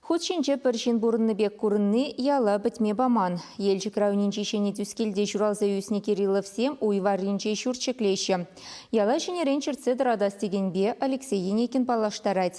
Хут ҫинче пӗр ҫын пурӑннӑ пек курӑнни яла пӗтме паман. Елчӗк районӗнчи Ҫӗнӗ Тӳскелте ҫуралса ӳснӗ Кирилловсем уй варринче ҫурт ҫӗклеҫҫӗ. Яла ҫӗнӗрен чӗртсе тӑратас текенпе Алексей Енейкин паллаштарать.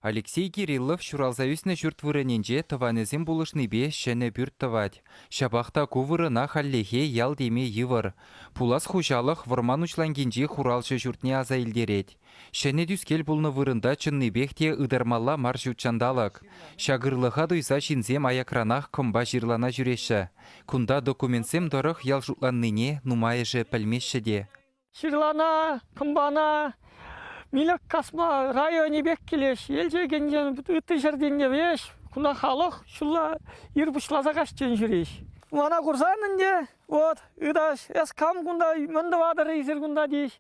Алексей Кириллов ҫуралса ӳснӗ ҫурт вырӑнӗнче тӑванӗсем пулӑшнипе ҫӗнӗ пӳрт тӑвать. Ҫапах та ку вырӑна хальлӗхе ял теме йывӑр. Пулас хуҫалӑх вӑрман уҫланкинчи хуралҫӑ ҫуртне аса илтерет. Ҫӗнӗ тӳскел пулнӑ вырӑнта чӑннипех те ытармалла мар ҫут ҫанталӑк. Ҫак ырлӑха туйса ҫынсем аякранах кӑмпа-ҫырлана ҫӳреҫҫӗ. Кунта документсем тӑрӑх ял шутланнине нумайӑшӗ пӗлмеҫҫӗ те. Ҫырлана, кӑмпана, милӗк касма районӗ пек килет. Елчӗкӗнчен ытти ҫӗртенне веҫ кунта халӑх ҫулла ир пуҫласа каҫчен ҫӳрет. Мана курсан ӗнтӗ, вот, ыташ, эс кам кунта, мӗн тӑватӑр эсир кунта тет.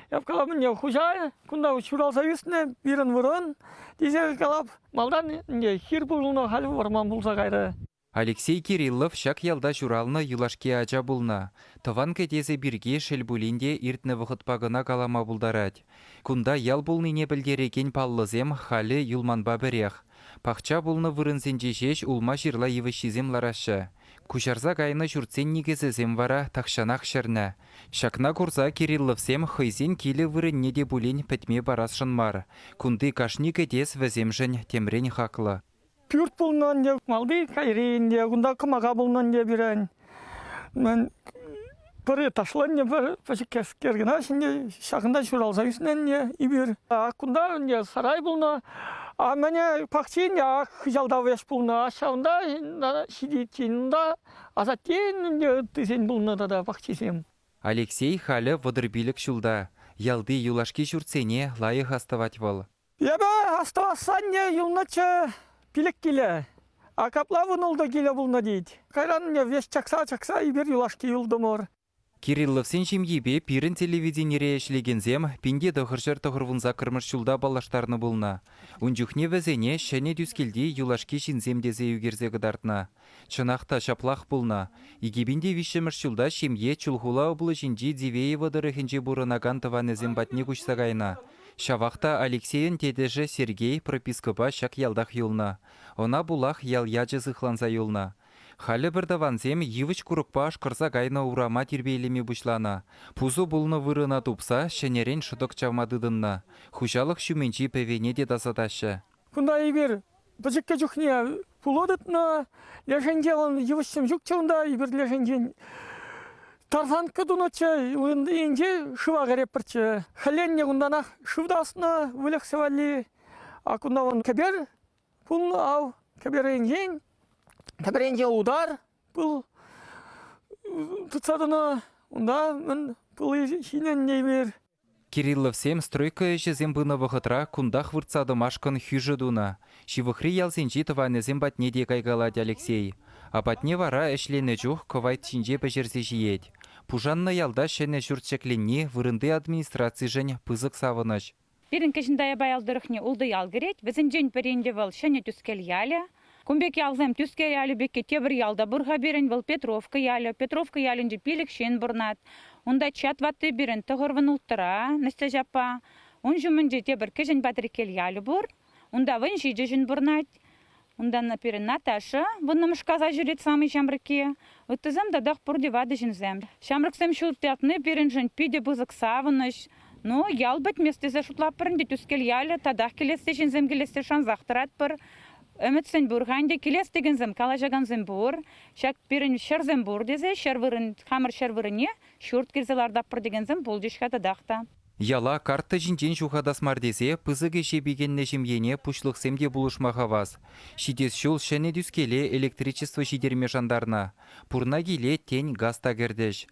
Эп калам, ӗнтӗ хуҫа кунта ҫуралса ӳснӗ пирӗн вырӑн, тесе калап. Малтан ӗнтӗ хир пулнӑ, халь вӑрман пулса кайрӗ. Алексей Кириллов ҫак ялта ҫуралнӑ юлашки ача пулнӑ. Тӑван кӗтесӗ пирки шел пулин те иртнӗ вӑхӑтпа кӑна калама пултарать. Кунта ял пулнине пӗлтерекен паллӑсем халӗ юлманпа пӗрех. Пахча пулнӑ вырӑнсенче ҫеҫ улма-ҫырла йывӑҫҫисем лараҫҫӗ. Куҫарса кайнӑ ҫуртсен никӗсӗсем вара тахҫанах ҫӗрнӗ. Ҫакна курса Кирилловсем хӑйсен килӗ вырӑнне те пулин пӗтме парасшӑн мар. Кунти кашни кӗтес вӗсемшӗн темрен хаклӑ. Пӳрт пулнӑ ӗнтӗ, малти кайри ӗнтӗ, кунта кӑмака пулнӑ ӗнтӗ пирӗн. Мӗн пӗри ташлӑ ӗнтӗ, пӗр пӗчӗккескер кӑна ӗнтӗ, ҫакӑнта ҫуралса ӳснӗ ӗнтӗ эпир. Ак кунта ӗнтӗ сарай пулнӑ, а мӗне пахчи ӗнтӗ, ак хыҫалта вес пулнӑ, а ҫавӑнта ҫитиччен унта асаттен ӗнтӗ ыттисен пулнӑ тата пахчисем. Алексей халӗ вӑтӑр пилӗк ҫулта. Ялти юлашки ҫуртсене лайӑх астӑвать вӑл. Эпӗ астӑвасанне юлнӑччӗ пилӗк киле. А капла вунултӑ киле пулнӑ тет. Кайран веҫ чакса-чакса эпир юлашки юлтӑмӑр. Кирилловсен ҫемйипе пирӗн телевиденире ӗҫлекенсем пинте тӑхӑрҫӗр тӑхӑрвун саккӑрмӗш ҫулта паллаштарнӑ пулнӑ. Ун чухне вӗсене ҫӗнӗ Тӳскелти юлашки ҫынсем тесе ӳкерсе кӑтартнӑ. Чӑнах та ҫаплах пулнӑ. Икӗ пин те виҫҫӗмӗш ҫулта ҫемье Чулхула облаҫӗнчи Дивеево тӑрӑхӗнче пурӑнакан тӑванӗсем патне куҫса кайнӑ. Ҫавах та Алексейӑн тетӗшӗ Сергей пропискӑпа ҫак ялтах юлнӑ. Ӑна пулах ял ячӗ сыхланса юлнӑ. Халӗ пӗр тӑвансем йывӑҫ-курӑкпа ашкӑрса кайнӑ урама тирпейлеме пуҫланӑ. Пусӑ пулнӑ вырӑна тупса ҫӗнӗрен шӑтӑк чавма тытӑннӑ, хуҫалӑх ҫумӗнчи пӗвене те тасатаҫҫӗ. Кунта эпир Пӗчӗккӗ чухне пуло тытнӑ. Лешенте он йывӑҫсем ҫукчӗ унта, эпир лешенчен тарсанкка тунӑччӗ. Инҫе шыва кӗреппӗрччӗ. Хӗленне кунтанах шыв таснӑ, выльӑхсӗ валли. А кунта вон кӗпер пулнӑ, ав, кӗперенчен, кӗперенче утар пыл тытса тӑнӑ. Унта мӗн пыл ҫинӗннӗ эпир. Кирилловсем стройка ӗҫӗсем пынӑ вӑхӑтра кунтах выртса тӑмашкӑн хӳшӗ тунӑ, ҫывӑхри ялсенчи тӑванӗсем патне те кайкалать Алексей. Апатне вара ӗҫленӗ чух кӑвайт ҫинче пӗҫерсе ҫиет. Пушаннӑ ялта ҫӗнӗ ҫурт ҫӗкленни вырӑнти администрацишӗн пысӑк савӑнӑҫ. Пирӗн Кӗҫӗн Таяпа ял тӑрӑхне ултӑ ял кӗрет, вӗсенчен пӗри ӗнтӗ вӑл, Ҫӗнӗ Тӳскел ялӗ. Кун пек ялсем Тӳскер ялӗ пекки тепӗр ял та пур-ха пирӗн, вӑл Петровка ялӗ. Петровка ялӗнче пилӗк ҫын пурӑнать. Унта чат ватти пирӗн тӑхӑрвӑн улттӑра, Настяҫ аппа. Ун ҫумӗнче тепӗр кӗҫӗн Патриккел ялӗ пур. Унта вӑн ҫичӗ ҫын пурӑнать. Унтан пирӗн Наташа, вуннӑмӗш класа ҫӳрет самый ҫамрӑкки. Ыттисем татах пурте ватӑ ҫынсем. Ҫамрӑксем ҫурт ятни пирӗншӗн питӗ пысӑк савӑнӑҫ. Ну, ял пӗтмест тесе шутлатпӑр ӗнтӗ. Тӳскел ялӗ татах килессе, ҫынсем килессе шансах тӑратпӑр. Ӗмӗтсем пур-ха ӗнтӗ, килес текенсем, калаҫакансем пур. Ҫак пирӗн ҫӗрсем пур тесе ҫӗр вырӑн, хамӑр ҫӗр вырӑнне ҫурт кӳрсе лартатпӑр текенсем пулчӗҫ-ха татах та. Яла карточинчен ҫухатас мар тесе пысӑк ӗҫе пикеннӗ ҫемьене пуҫлӑхсем те пулӑшма хавас. Ҫитес ҫул ҫӗнӗ Тӳскеле электричество ҫитерме шантарнӑ. Пурна киле, тен, газ та кӗртӗҫ.